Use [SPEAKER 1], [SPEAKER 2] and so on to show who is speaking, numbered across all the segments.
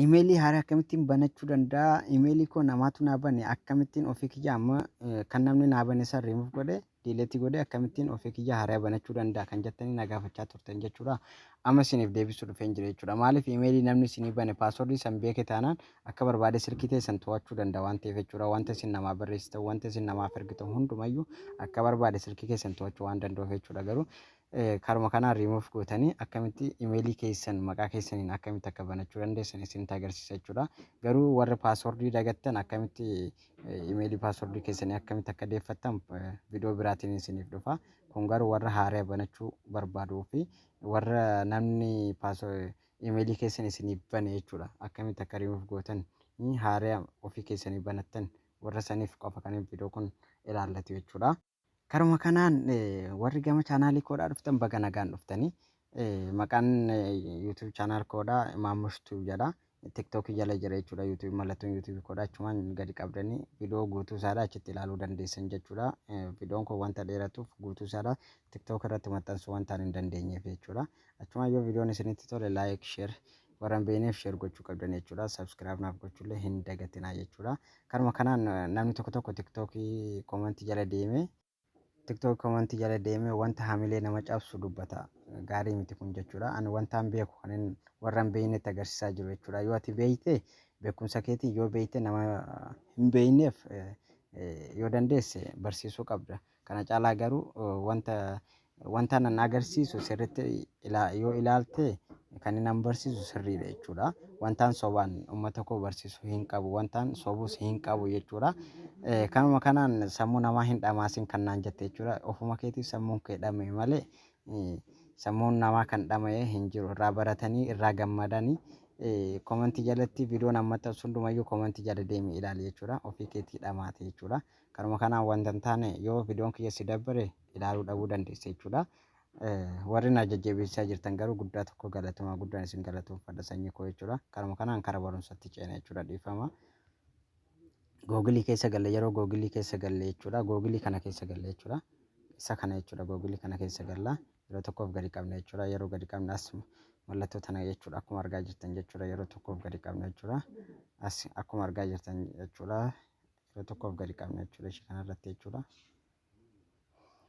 [SPEAKER 1] Imeelii haaraa akkamittiin banachuu danda'a? Imeelii koo namaatu naa bane akkamittiin ofii kiyya amma eh, kan namni naa bane san remove godhe delete godhe akkamittiin ofii kiyya haaraa banachuu danda'a kan jettanii na gaafachaa turtan jechuudha. Amma isiniif deebisuu dhufeen jira jechuudha. Maaliif imeelii namni isinii bane paaswordii san beeke taanaan akka barbaade silkii teessan to'achuu danda'a waan ta'eef jechuudha. Wanta isin namaa barreessitan, wanta isin namaaf ergitan hundumayyuu akka barbaade silkii keessan to'achuu waan danda'uuf jechuudha. Garuu Karuma kanaan remove gootanii akkamitti email keessan maqaa keessaniin akkamitti akka banachuu dandeessan isinitti agarsiisa jechuudha. Garuu warri password dagattan akkamitti email password keessanii akkamitti akka deeffattan video biraatiin isiniif dhufa. Kun garuu warra haaraya banachuu barbaaduu fi warra namni email keessan isiniif bane jechuudha. Akkamitti akka remove gootan haaraya ofii keessanii banattan warra saniif qofa kan video kun ilaallatu jechuudha. Karuma kanaan warri gama chaanaalii koodhaa dhuftan baga nagaan dhuftani. Maqaan YouTube channel koodhaa Maamush Tube jedha. TikTok jala jira jechuudha YouTube mallattoon YouTube koodhaa achumaan gadi qabdanii viidiyoo guutuu isaadhaa achitti ilaaluu dandeessan jechuudha. Viidiyoon kun wanta dheeratuuf guutuu isaadhaa TikTok irratti maxxansuu wantaan hin dandeenyeef jechuudha. Achumaan yoo viidiyoon isinitti tole like, share Warra hin beekneef share gochuu qabdan jechuudha. Subscribe naaf gochuullee hin dagatinaa jechuudha. Kanuma kanaan namni tokko tokko TikTok komantii jala deemee TikTok komantii jala deemee wanta hamilee nama cabsu dubbata. Gaarii miti kun jechuudha. Ani wantaan beeku kan hin warra hin beeknetti agarsiisaa jiru jechuudha. Yoo ati beekte beekumsa keetiin yoo beekte nama hin beekneef yoo dandeesse barsiisuu qabda. Kana caalaa garuu wanta wanta nan agarsiisu sirriitti ilaa- yoo ilaalte kan inni barsiisu sirriidha jechuudha. Wantaan sobaan uummata koo barsiisu hin qabu. Wantaan sobus hin qabu jechuudha. Eh, Kanuma kanaan sammuu namaa hin dhamaasin kan naan jette jechuudha. Ofuma keetiif sammuun kee dhama'e malee eh, sammuun namaa kan dhama'e hin jiru. Irraa baratanii, irraa gammadanii eh, komantii jalatti viidiyoon amma ta'u hundumayyuu komantii jala deemi ilaali jechuudha. Ofii keetii dhamaate jechuudha. Kanuma kanaan wanta hin taane yoo viidiyoon kiyya si dabbare ilaaluu dhabuu dandeessa jechuudha. Warri na jajjabeessaa jirtan garuu guddaa tokko galatoomaa guddaan isin galatoomfadha sanyii koo jechuudha. Kanuma kanaan kara barumsatti ceena jechuudha dhiifama. Googilii keessa galle yeroo googilii keessa galle jechuudha. Googilii kana keessa galle jechuudha. Isa kana jechuudha googilii kana keessa galla yeroo tokkoof gadi qabna jechuudha. Yeroo gadi qabna as mallattoo tana jechuudha akkuma argaa jirtan jechuudha yeroo tokkoof gadi qabna jechuudha. As akkuma argaa jirtan jechuudha. kilo tokkoof gadi qabna jechuudha ishee kanarratti jechuudha.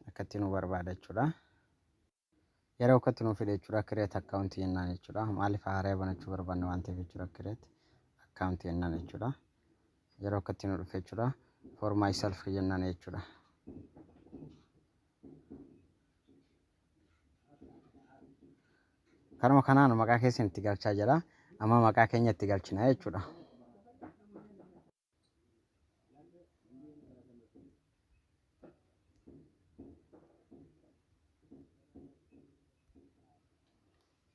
[SPEAKER 1] Akkatti nu barbaada jechuudha. Yeroo akkatti nu fide jechuudha kireet akkaawuntii jennaan jechuudha. Maaliif haaraya banachuu barbaanne waan ta'eef jechuudha kireet akkaawuntii jennaan jechuudha. Yeroo akkatti nu dhufe jechuudha for myself jennaan jechuudha. Kanuma kanaan maqaa keessan itti galchaa jira. Amma maqaa keenya itti galchina jechuudha.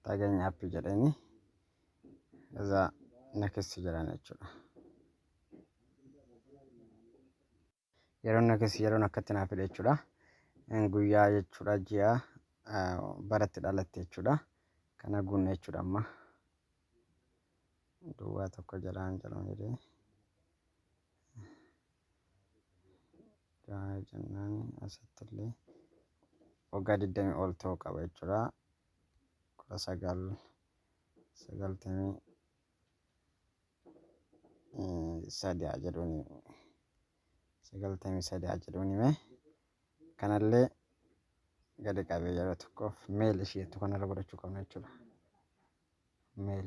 [SPEAKER 1] Taageenyi appii jedhanii irraa na keessa jiran jechuudha. Yeroon yookiis yeroon akkatti naaf hidhe jechuudha. Guyyaa jechuudha ji'a baratti dhalatte jechuudha. Kana guunne jechuudha amma. Duwwaa tokko jalaan jalaan jedhee. Jahaa jennaan asitti illee waggaa digdamii ol ta'uu qaba jechuudha. Kudha sagal sagaltamii sadi haa jedhuuni sagaltamii sadi haa jedhuuni mee kanallee gadi qabee yeroo tokkoof meel ishee jettu kanarra godhachuu qabna jechuudha meel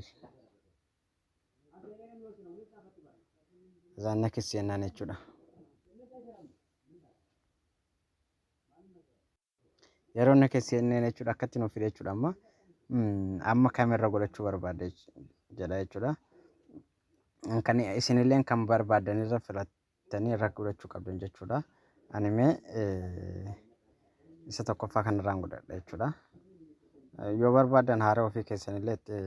[SPEAKER 1] isaan nakis jennaan jechuudha Yeroo inni akka CNN jechuudha akkatti nuuf fide jechuudha amma amma kamerra godhachuu barbaadde jedha jechuudha. Kan isinillee kan barbaaddan irra filattanii irra godhachuu qabdan jechuudha. Ani mee isa tokkoffaa kanarraan godhadha jechuudha. Yoo barbaaddan haara ofii keessanillee itti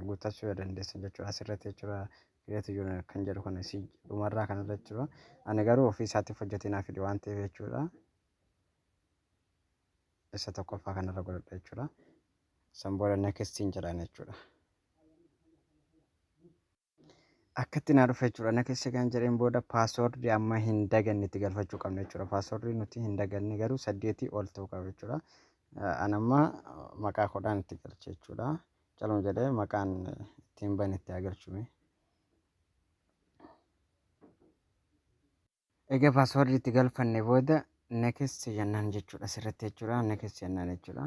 [SPEAKER 1] guuttachuu yoo dandeessan jechuudha asirratti jechuudha. Kireetu yuun kan jedhu kana si dhumarraa kanarra jechuudha. Ani garuu ofii isaatiif hojjetee naaf fide waan ta'eef jechuudha. isa tokkoffaa kanarra godhadha jechuudha. San booda nakestiin jedhaan jechuudha. Akkatti naa dhufe jechuudha. Nakessi kan jedheen booda paaswoordii amma hin daganne itti galfachuu qabna jechuudha. Paaswoordii nuti hin daganne garuu saddeetii ol ta'uu qaba jechuudha. An amma maqaa kudhaan itti galche jechuudha. Caluma jedhee maqaan ittiin bane itti haa galchume. Egaa password itti galfanne booda next jennaan jechuudha asirratti jechuudha next jennaan jechuudha.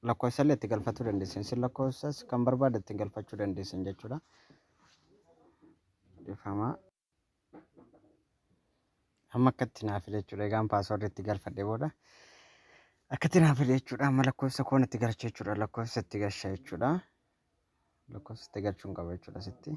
[SPEAKER 1] Lakkoofsa illee itti galfachuu dandeessan isin lakkoofsas kan barbaaddan itti galfachuu dandeessan jechuudha. Dhifama. Amma akkatti naaf fide jechuudha egaan password itti galfadhe booda akkatti naaf fide jechuudha amma lakkoofsa koon itti galcha jechuudha lakkoofsa itti galcha jechuudha. Lakkoofsa itti galchuun qaba jechuudha sitti.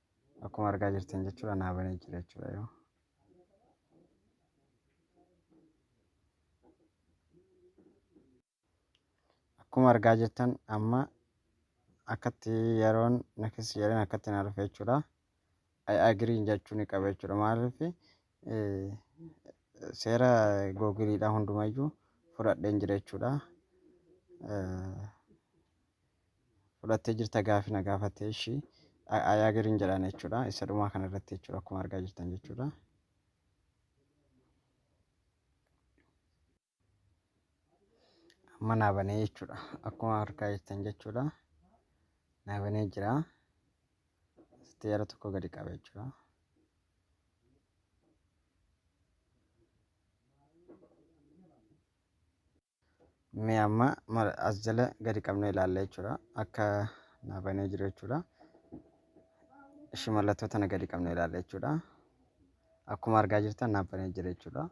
[SPEAKER 1] akkuma argaa jirtan jechuudha naa banee jira jechuudha yoo akkuma argaa jirtan amma akkatti yeroon nakis jedhan akkatti naa dhufe jechuudha I agree jechuu ni qaba jechuudha maaliif seera googiliidha hundumayyuu fudhadheen jira jechuudha. fudhattee jirta gaafi na gaafatte ishii ayaa giriin jedhaan jechuudha isa dhumaa kana irratti jechuudha akkuma argaa jirtan jechuudha. Amma naa banee jechuudha akkuma argaa jirtan jechuudha naa banee jira asitti yeroo tokko gadi qaba jechuudha. Mee amma mara- as jala gadi qabnee ilaalla jechuudha. Akka naa banee jiru jechuudha. Ishii mallattoo tana gadi qabnee ilaalla jechuudha. Akkuma argaa jirtan naa banee jira jechuudha.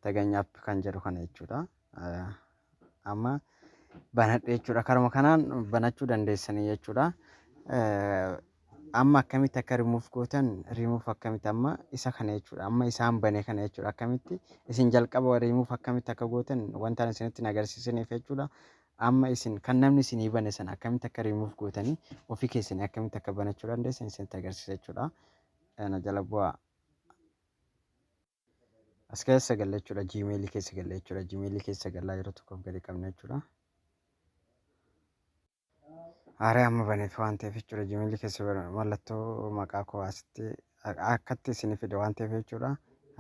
[SPEAKER 1] Taganya app kan jedhu kana jechuudha. Eh, Amma banadhe jechuudha. Karuma kanaan banachuu dandeessanii jechuudha. Eh, Amma akkamitti akka remove gootan remove akkamitti amma isa kana jechuudha amma isaan bane kana jechuudha akkamitti isin jalqaba remove akkamitti akka gootan wantaan isinitti hin agarsiisaniif jechuudha amma isin kan namni isinii bane sana akkamitti akka remove gootanii ofii keessanii akkamitti akka banachuu dandeessan isinitti agarsiisa jechuudha na jala bu'aa. As keessa galla jechuudha gmail keessa galla jechuudha gmail keessa gallaa yeroo tokkoof gadi qabna jechuudha. Aaree amma baneef waan ta'eef jechuudha jimilli keessa bara- mallattoo maqaa koo asitti a- akkatti isin fide waan ta'eef jechuudha.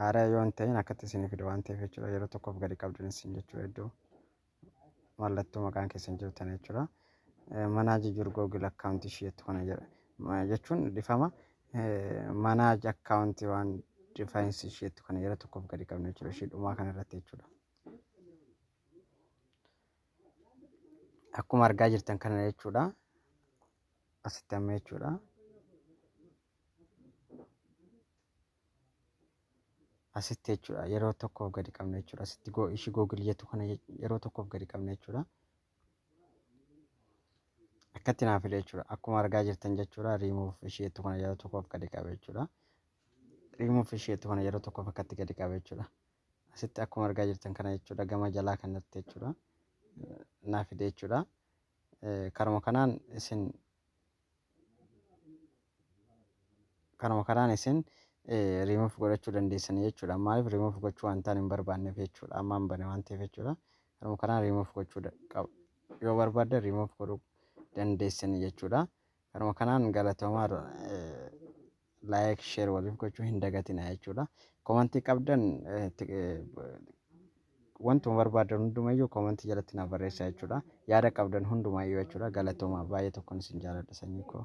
[SPEAKER 1] Haaraa yoo hin ta'in akkatti isin fide waan ta'eef jechuudha yeroo tokkoof gadi qabdan isin jechuudha iddoo mallattoo maqaan keessan jiru tana jechuudha. Eh, Manaa jijjiiru Google account ishee jettu kana jedha. Ma- Jechuun dhifama manaa account waan defines ishee jettu kana yeroo tokkoof gadi qabna jechuudha ishee dhumaa kana irratti jechuudha. akkuma argaa jirtan kana jechuudha asitti amma jechuudha asitti jechuudha yeroo tokkoof gadi qabna jechuudha asitti go- ishii googil jettu kana je- yeroo tokkoof gadi qabna jechuudha akkatti naaf fide jechuudha akkuma argaa jirtan jechuudha riimuuf ishii jettu kana yeroo tokkoof gadi qabe jechuudha riimuuf ishii jettu kana yeroo tokkoof akkatti gadi qabe jechuudha asitti akkuma argaa jirtan kana jechuudha gama jalaa kan irratti jechuudha naa fide jechuudha karuma kanaan isin karuma kanaan isin remove godhachuu dandeessanii jechuudha maaliif remove gochuu wantaan hin barbaanneef jechuudha amma hin bane waan ta'eef jechuudha karuma kanaan remove gochuu qaba yoo barbaadde remove godhuu dandeessanii jechuudha karuma kanaan galatoomaa like share waliif gochuu hin dagatinaa jechuudha. Komantii qabdan eh, ti- eh, wantuma barbaadan hundumayyuu komantii jalatti naaf barreessaa jechuudha. Yaada qabdan hundumayyuu jechuudha. Galatoomaa baay'ee tokkoon isin jaaladha sanyii koo.